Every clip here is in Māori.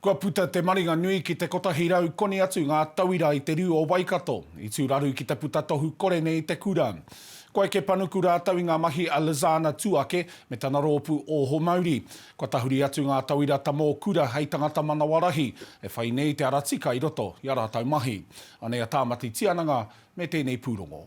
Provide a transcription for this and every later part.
Kua puta te maringa nui ki te kotahi rau koni atu ngā tauira i te rū o Waikato. I tū raru ki te puta tohu kore nei i te kura. Ko Eke Panuku rātou i ngā mahi a Lizana Tuake me tana rōpū Oho Mauri. Kua tahuri atu ngā tauira ta mō kura hei tangata manawarahi e whai nei te ara tika i roto i a rātou mahi. Anei a Tāmati Tiananga me tēnei pūrongo.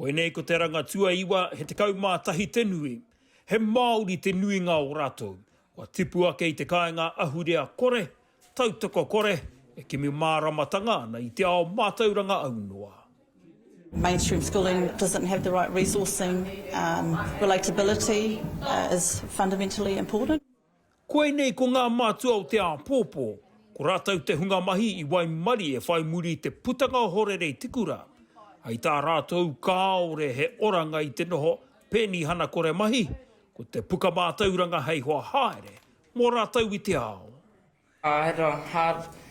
Koinei ko te ranga tuaiwa he tekau mā tahi te nui. He Māori te nuinga o rātou. Kua tipu ake i te kāinga ahurea kore, tautoko kore, e kimi māramatanga ana i te ao mātauranga aunoa. Mainstream schooling doesn't have the right resourcing, relatability is fundamentally important. Koinei ko ngā mātua o te āpōpō, ko rātou te hunga mahi i waimarie e whai muri i te putanga o Horerei Tikura. Hei tā rātou kāore he oranga i te noho penihana kore mahi, ko te puka mātauranga hei hoa haere mō rātou i te ao. Āe rā, hard,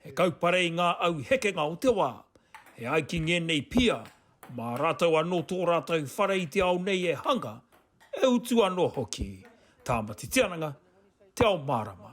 He kaupare i ngā au hekenga o te wā. E ai ki ngēnei pia, mā rātou anō tō rātou whare i te ao nei e hanga, e utu anō hoki. Tāmati Tiananga, Te Ao Mārama.